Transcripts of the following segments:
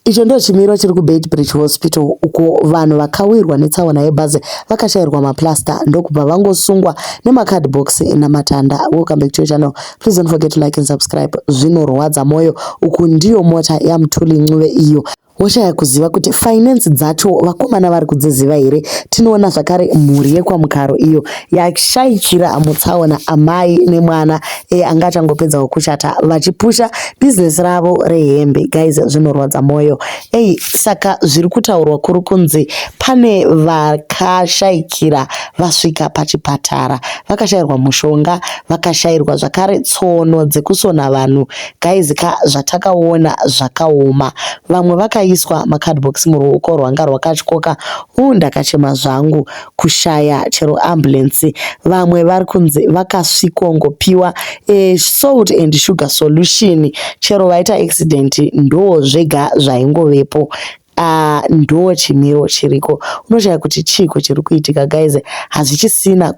Icho ndicho chimiro chiri kuBeitbridge Hospital uko vanhu vakawirwa netsaona yebhazi vakashairwa maplaster ndokubva vangosungwa nemacardbox namatanda. Welcome back to your channel. Please don't forget to like and subscribe. Zvinorwadza moyo. Uku ndiyo mota yaMthuli Ncube iyo woshaya kuziva kuti finance dzacho vakomana vari kudziziva here tinoona zvakare mhuri yekwamukaro iyo yashaikira mutsaona amai nemwana e, anga achangopedzawo kuchata vachipusha business ravo rehembe guys zvinorwadza moyo ei saka zviri kutaurwa kuri kunzi pane vakashaikira vasvika pachipatara vakashairwa mushonga vakashairwa zvakare tsono dzekusona vanhu guys ka zvatakaona zvakaoma vamwe vakaiswa macardbox muruoko rwanga rwakatyoka u ndakachema zvangu kushaya chero ambulance vamwe vari kunzi vakasvikongopiwa e salt and sugar solution chero vaita accident ndoo zvega zvaingovepo Uh, ndo chimiro chiriko unoshaya kuti chiiko chiri kuitika guys hazvichisina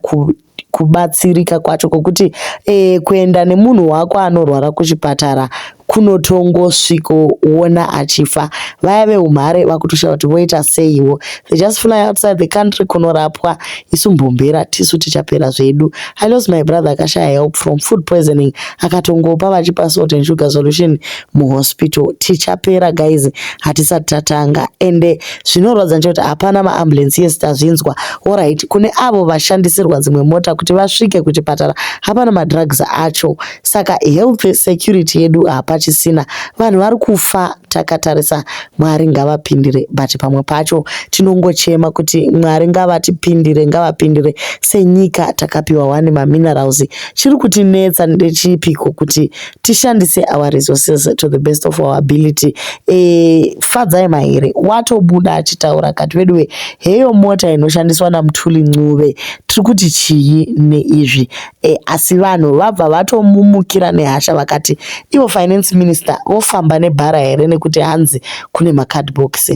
kubatsirika kwacho kwokuti e, kuenda nemunhu wako anorwara kuchipatara kunotongosvikoona achifa vaya veumhare vakutoshaya kuti voita seiwo they just fly outside the country kunorapwa isu mbomhera tisu tichapera zvedu i lost my brother akashaya help from food poisoning akatongopa vachipa salt and sugar solution muhospital tichapera guys hatisati tatanga ende Zvinorwadza ndechekuti hapana maambulensi yes tazvinzwa orit kune avo vashandisirwa dzimwe mota kuti vasvike kuchipatara hapana madrugs acho saka health security yedu hapachisina vanhu vari kufa takatarisa mwari ngavapindire but pamwe pacho tinongochema kuti mwari ngavatipindire ngavapindire senyika takapiwa wani maminerals chiri kutinetsa ndechipiko kuti tishandise our resources to the best of our ability e, fadzai mahere watobuda achitaura kati veduwe heyo mota inoshandiswa namutuli ncube tiri kuti chii neizvi e, asi vanhu vabva vatomumukira nehasha vakati ivo finance minister vofamba nebhara here nekuti hanzi kune macardbox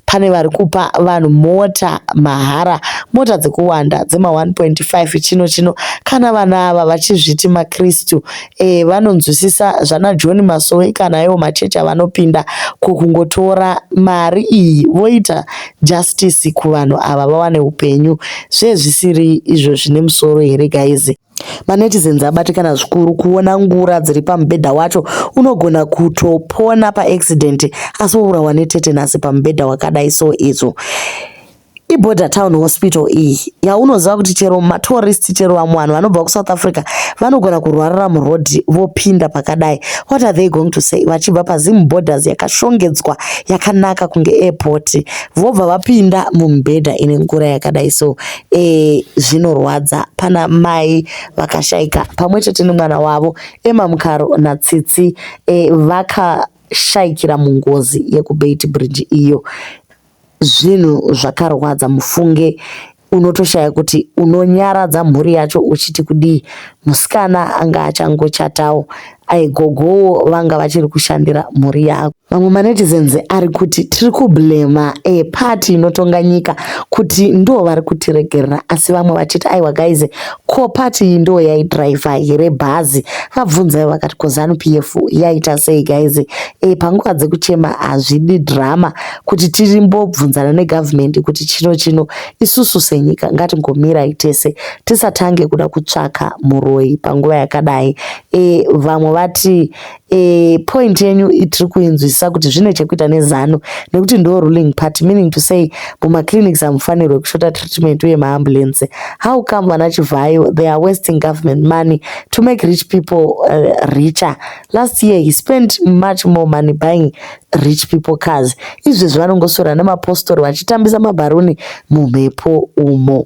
Pane vari kupa vanhu mota mahara, mota dzekuwanda dzema 1.5 chino chino. Kana vanhu ava vachizviti maKristu e, eh, vanonzwisisa zvana John Masowe kana iwo machechi avanopinda ko kungotora mari iyi voita justice kuvanhu ava vawane upenyu. Zvezvisiri izvo zvine musoro here guys? MaNetizens abatikana zvikuru kuona ngura dziri pamubhedha wacho unogona kutopona paaccident asi wourawa netetenasi pamubhedha wakadai so izvo iborder town hospital iyi yaunoziva kuti chero matourist chero vamwe vanhu vanobva kusouth africa vanogona kurwarira muroad vopinda pakadai what are they going to say vachibva pazim borders yakashongedzwa yakanaka kunge airport vobva vapinda mumubhedha ine ngura yakadai so e, zvinorwadza pana mai vakashaika pamwe chete nemwana wavo Emma Mukaro naTsitsi e, vakashaikira mungozi yekuBeit Bridge iyo. Zvinhu zvakarwadza mufunge unotoshaya kuti unonyaradza mhuri yacho uchiti kudii musikana anga achangochatawo aigogowo vanga vachiri kushandira mhuri yako mamwe manetizens ari kuti tiri kublema e party inotonga nyika kuti ndo vari kutiregerera asi vamwe vachiti aiwa guys ko party iyi ndo yaidriver here bhazi vabvunzai vakati ko zanu p f yaita sei guys e panguva dzekuchema hazvidi drama kuti tirimbobvunzana negovernment kuti chino chino isusu senyika ngatingomirai tese tisatange kuda kutsvaka muroyi panguva yakadai e, vamwe vati e, point yenyu itiri kuinzwisisa kuti zvine chekuita nezano nekuti ndo ruling part meaning to say mumaclinics hamufanirwe kushota treatment uye maambulense how come vana chivhayo they are wasting government money to make rich people uh, richer last year he spent much more money buying rich people cars izvezvi vanongosora nemapostori vachitambisa mabharuni mumhepo umo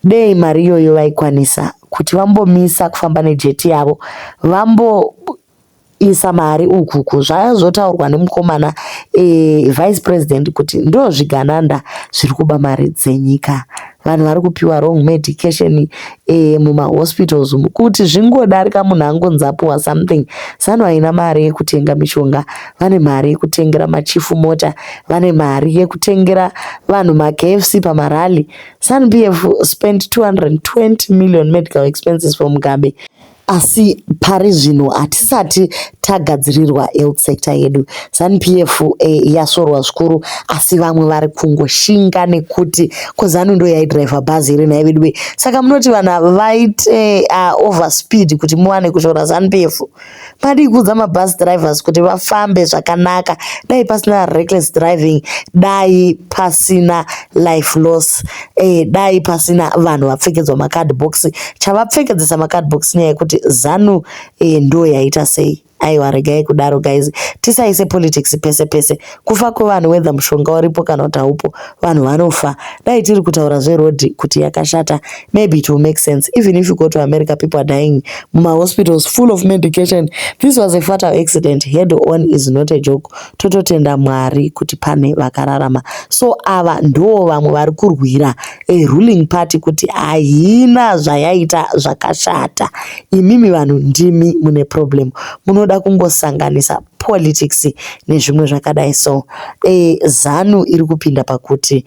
Dei mari iyoyo vaikwanisa kuti vambomisa kufamba nejeti yavo vamboisa mari uku uku zvazotaurwa nemukomana ee vice president kuti ndozvigananda zviri kuba mari dzenyika vanhu vari kupiwa wrong medication ee mumahospitals umu kuti zvingodarika munhu angonzi apiwa something zanu haina mari yekutenga mishonga. vane mari yekutengera machifu mota vane mari yekutengera vanhu makfc pamarally sanpf spent 220 million medical expenses for mugabe asi pari zvino hatisati tagadzirirwa health sector yedu zanupf eh, yasvorwa zvikuru asi vamwe vari kungoshinga nekuti kozanu ndo yaidriver bhazi here nhai veduwe saka munoti vanhu ava vaite uh, over speed kuti muwane kushora zanupf Madii kuudza mabus drivers kuti vafambe zvakanaka dai pasina reckless driving dai pasina life loss eh, dai pasina vanhu vapfekedzwa macard box chavapfekedzesa macard box nyaya yekuti zanu eh, ndo yaita sei aiwa regai kudaro guys tisaise politics pese pese kufa kwevanhu whether mushonga uripo kana kuti haupo vanhu vanofa dai tiri kutaura zveroad kuti yakashata maybe it will make sense even if you go to america people are dying mumahospitals full of medication this was a fatal accident head on is not a joke tototenda mwari kuti pane vakararama so ava ndoo vamwe vari kurwira a ruling party kuti haina zvayaita zvakashata imimi vanhu ndimi mune problem munoda kungosanganisa politics nezvimwe zvakadai so e, zanu iri kupinda pakuti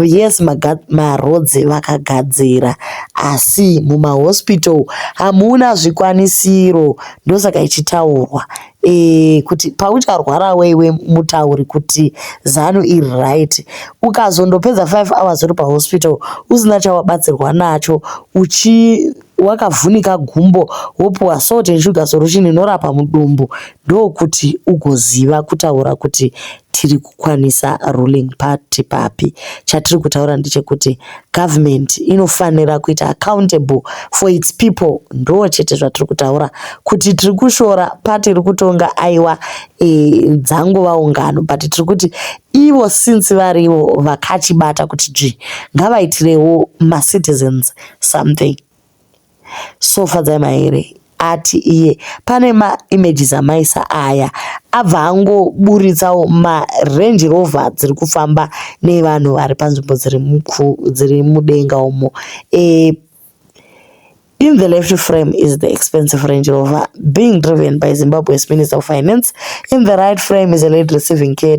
yes marodzi vakagadzira asi mumahospital hamuna zvikwanisiro ndosaka ichitaurwa e, kuti paucharwara weiwe mutauri kuti zanu iri right ukazondopedza 5 hours uri pahospital usina chawabatsirwa nacho uchi wakavhunika gumbo wopuwa salt and sugar solution inorapa mudumbu ndokuti ugoziva kutaura kuti tiri kukwanisa ruling party papi chatiri kutaura ndechekuti government inofanira kuita accountable for its people ndo chete zvatiri kutaura kuti tiri kushora party iri kutonga aiwa e, dzangova ungano but tiri kuti ivo since varivo vakachibata kuti dzvi ngavaitirewo macitizens something so fadzai maere ati iye pane maimages amaisa aya abva angoburitsawo marange rover dziri kufamba nevanhu vari panzvimbo dziri mudenga umo e, In the left frame is the expensive Range Rover being driven by Zimbabwe's Minister of Finance. In the right frame is a lady receiving care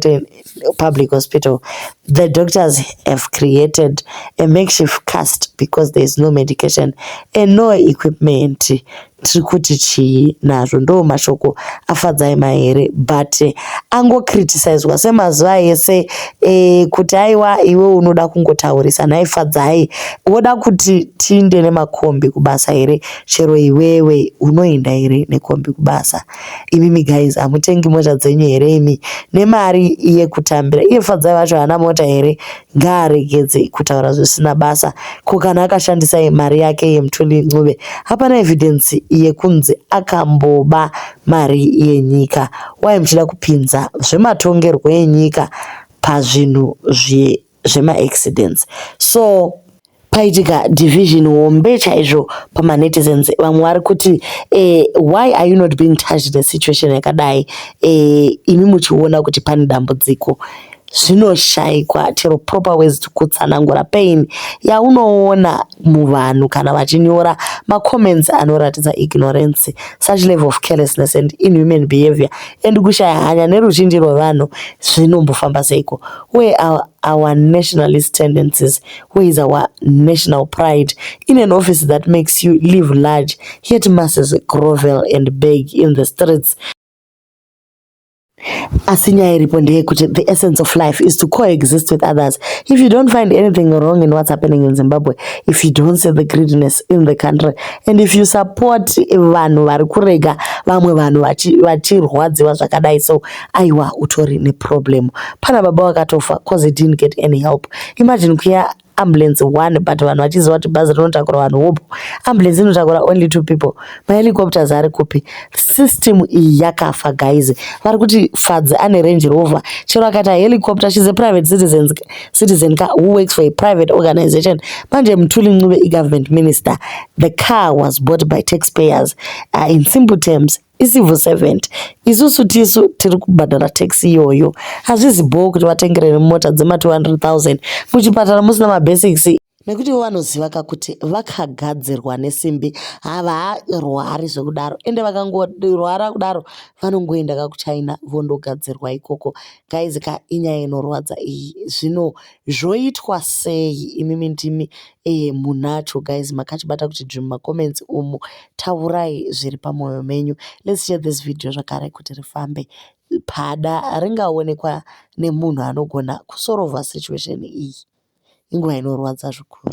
public hospital, the doctors have created a makeshift cast because there is no medication and no equipment. Tiri kuti chii nazvo? Ndo mashoko afadzai mahere but eh, ango criticiswa semazuva ese eh, kuti aiwa iwe unoda kungotaurisa nhai fadzai, woda kuti tiinde nemakombi kubasa here? Chero iwewe unoinda here nekombi kubasa? imimi guys hamutengi mota dzenyu here imi nemari yekutambira iye fadzai vacho haana mota here ngaaregedze kutaura zvisina basa ko kana akashandisa mari yake yemutuli ncube hapana evidence yekunzi akamboba mari yenyika wai muchida kupinza zvematongerwo enyika pazvinhu zve zvemaaccidents so paitika division hombe chaizvo pamanetizens vamwe vari kuti eh, why are you not being touched nesituation yakadai eh, imi muchiona kuti pane dambudziko zvinoshaikwa chero proper ways to kutsanangura pain yaunoona muvanhu kana vachinyora macomments anoratidza ignorance such level of carelessness and inhuman behavior and kushaya hanya neruzhinji rwevanhu zvinombofamba seiko where are our nationalist tendencies where is our national pride in an office that makes you live large yet masses grovel and beg in the streets Asi nyaya iripo ndeyekuti the essence of life is to coexist with others. If you don't find anything wrong in what's happening in Zimbabwe, if you don't see the greediness in the country, and if you support vanhu vari kurega vamwe vanhu vachirwadziwa zvakadai so, aiwa utori neproblem. Pana baba vakatofa cause he didn't get any help. Imagine kuya ambulance one but vanhu vachiziva kuti bhazi rinotakura vanhu hope ambulance inotakura only two people mahelicopters ari kupi system iyi yakafa guys vari kuti fadzi ane range rover chero akaita helicopter she's a private citizen citizen ka who works for a private organization manje mthuli ncube igovernment minister the car was bought by taxpayers uh, in simple terms icivil servant isusu tisu tiri kubhadhara tax iyoyo hazvizi bhoo kuti vatengere nemota dzema 200 000 muchipatara musina mabasics nekuti vanoziva ka kuti vakagadzirwa nesimbi havarwari zvekudaro ende vakangorwara kudaro vanongoenda ka kuchina vondogadzirwa ikoko guys ka inyaya inorwadza iyi zvino Zvoitwa sei imimi ndimi ee munacho guys makachibata kuti dzvim ma comments umu taurai zviri pamoyo menyu let's share this video zvakare kuti rifambe pada ringaonekwa nemunhu anogona kusorovha situation iyi inguva inorwadza zvikuru